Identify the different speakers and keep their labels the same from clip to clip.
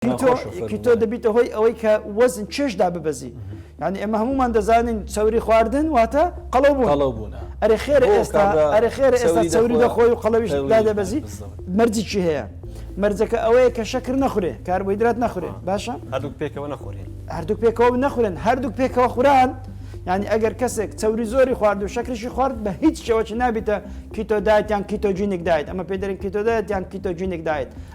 Speaker 1: کیتۆ دەبیتە هۆی ئەوەی کە وەزن چێژ داببەزی یعنی ئێمە هەمومان دەزانین چەوری خواردن واتە قەڵەو بوو قەڵەو بوون ئەرێ خێرە ئێستا ئەرێ خێرە ئێستا چەوری دەخۆی و قەڵەویش دادەبەزی مەرجی چی هەیە مەرجەکە ئەوەیە کە شەکر نەخورێ کاربۆیدرات نەخورێ باشە هەردوو پێکەوە
Speaker 2: نەخورێن هەردوو پێکەوە نەخورێن
Speaker 1: هەردوو پێکەوە خوران ینی ئەگەر کەسێک چەوری زۆری خوارد و شەکرشی خوارد بە هیچ شێوەی نابیتە کیتۆدایت یان کیتۆجینێک دایت ئەمە پێدرین کیتۆدایت یان کیتۆجینێک دایت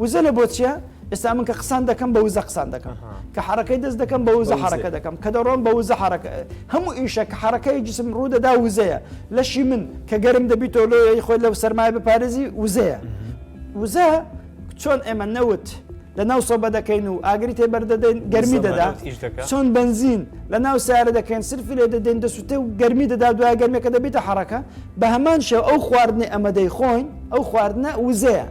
Speaker 1: وزە لە بۆ چیە؟ ئێستا من کە قسان دەکەم بە وزە قسان دەکەم کە حرەکەی دەست دەکەم بە وزە حرەکە دەکەم کە دەڕۆم بە وزە حرەکە هەموو ئیشە کە حرەکەی جسم ڕوودەدا وزەیە لەشی من کە گەرم دەبی تۆلۆی خۆی لەو سەرمای بپارێزی وزەیە وزە چۆن ئێمە نەوت لە ناو سۆبە دەکەین و ئاگری تێ بەردەدەین گەرمی دەدا چۆن بنزین لە ناو سارە دەکەین سرفی لێ دەدەین دەسووتێ و گەرمی دەدا دوای گەرمێکە دەبیتە حرەکە بە هەمان شێوە ئەو خواردنەی ئەمە دەیخۆین ئەو خواردنە وزەیە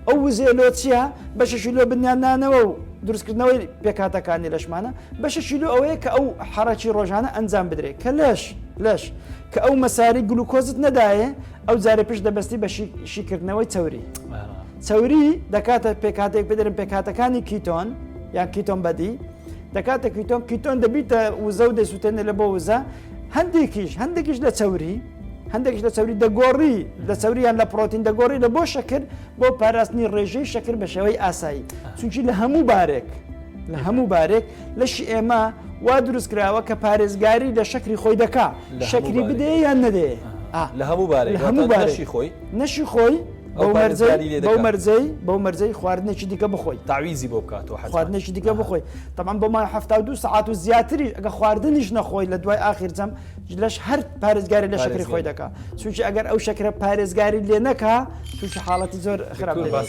Speaker 1: ئەو وزێ لۆ چییە بەشەشی لۆ بنیادنانەوە و دروستکردنەوەی پێکاتەکانی لەشمانە بەشەشی لۆ ئەوەیە کە ئەو حەڕەکی ڕۆژانە ئەنجام بدرێت کە لەش لەش کە ئەو مەساری گلوکۆزت نەدایە ئەو جارێ پشت دەبستی بە شیکردنەوەی چوری چوری دەکاتە پێکاتێک بدرن پێکاتەکانی کیتۆن یان کیتۆن بەدی دەکاتە کیتۆن کیتۆن دەبیتە وزە و دەسووتێنە لە بۆ وزە هەندێکیش هەندێکیش لە چەوری هەندێکش لە چەوری دەگۆڕی لە چەوریان لە پرۆتین دەگۆڕی لە بۆ شەکر بۆ پاراستنی ڕێژەی شەکر بە شێوەی ئاسایی چونکی لە هەموو بارێک لە هەموو بارێک لەشی ئێمە وا دروست کراوە کە پارێزگاری لە شەکری خۆی دەکا شەکری بدەیە یان نەدەێ لە هەموو بارێک
Speaker 2: هەموو بارشی خۆی نەشی
Speaker 1: خۆی بەو مەرجەی بەو مەرجەی بەو مەرجەی خواردنێکی دیکە بخۆی تاویزی بۆ بکاتەوە حەز
Speaker 2: خواردنێکی دیکە بخۆی
Speaker 1: تەمان بۆ مای هەفتا و دوو سەعات و زیاتری ئەگە خواردنیش نەخۆی لە دوای ئاخیر جەم لەش هەر پارێزگاری لە شەکری خۆی دەکا چونکی ئەگەر ئەو شەکرە پارێزگاری لێ نەکا تووشی حاڵەتی زۆر خراپ باس